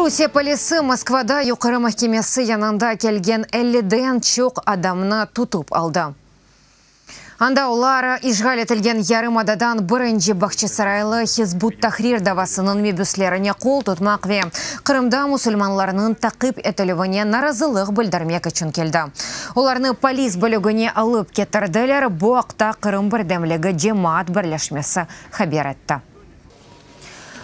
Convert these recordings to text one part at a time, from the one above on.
Rusiye polisi Moskvada Yuqarı mahkemesi yanında kelgen elliden çoq adamnı tutıp aldı. Anda olar işğal etilgen yarımadadan birinci Bağçasaraylı Hizb ut-Tahrir davasınıñ mebüslerine qol tutmaq ve Qırımda musulmanlarnıñ taqip etilüvine narazılıq bildirmek içün keldi. Olarnı polis bölügine alıp ketirdiler, bu aqta Qırım birdemligi cemaat birleşmesi haber etti.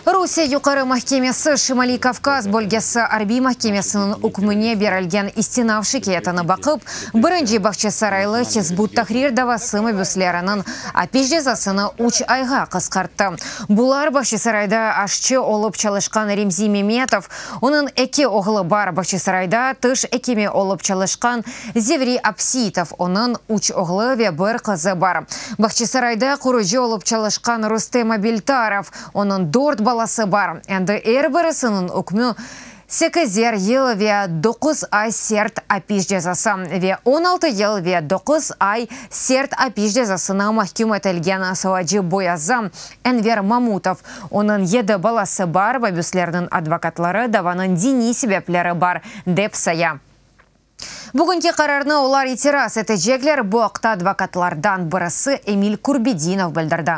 Rusiye Yuqarı mahkemesi Şimaliy Kavkaz bölgesi arbiy mahkemesiniñ ükmüne berilgen istinav şikâyetini baqıp, birinci bağçasaraylı Hizb ut-Tahrir davası mabüsleriniñ apis cezasını üç ayğa qısqarttı. Bular, Bağçasarayda aşçı olıp çalışqan Remzi Memetov, Onıñ eki oğlu bar, Bahçesarayda tiş ekimi olıp çalışqan Zevri Apsiytov, onıñ üç oğlu ve bir qızı bar. Bahçesarayda qurıcı olıp çalışqan Rustem Abiltarov, onıñ dört balası bar, endi er birisiniñ ükmü sekizer yıl ve doquz ay sert apis cezası ve on altı yıl ve doquz ay sert apis cezasına mahküm etilgen Sovacı Boyaza Enver Mamutov, onıñ yedi balası bar, mabüslerniñ advokatları davanıñ diniy sebepleri bar, dep saya. Bugünki qararnı olar itiraz etecekler, bu aqta advokatlardan birisi Emil Kurbedinov bildirdi.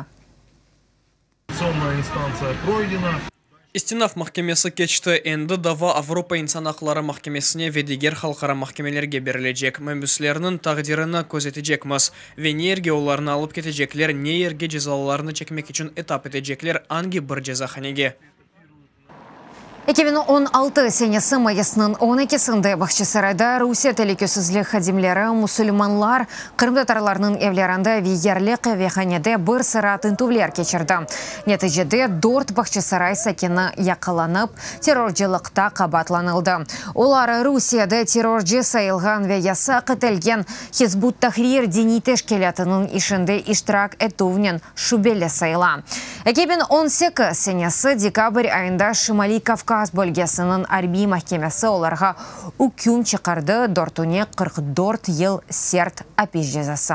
İstinaf mahkemesi keçti, endi dava Avropa insan aqları mahkemesine ve diger halqara mahkemelerge berilecek. Mabüslerniñ taqdirini közetecekmiz. Ve ne yerge olarnı alıp ketecekler, ne yerge cezalarını çekmek içün etap etecekler, angi bir cezahanege. Eki biñ on altı senesi mayısnıñ on ekisinde Bağçasarayda Rusiye telükesizlik hadimleri musulmanlar, qırımtatarlarnıñ evlerinde ve yerli qıvehanede bir sıra tintüvler keçirdi. Neticede, dört Bağçasaray sakini yaqalanıp, terrorcılıqta qabaatlanıldı. Olar Rusiyede terrorcı sayılğan ve yasaq etilgen Hizb ut-Tahrir diniy teşkilâtınıñ işinde iştirak etüvnen şübeli sayıla. Eki biñ on sekiz senesi dekabr ayında Şimaliy Kavkaz bölgesiniñ arbiy mahkemesi olarğa üküm çıqardı, dörtüne qırq dört yıl sert apis cezası.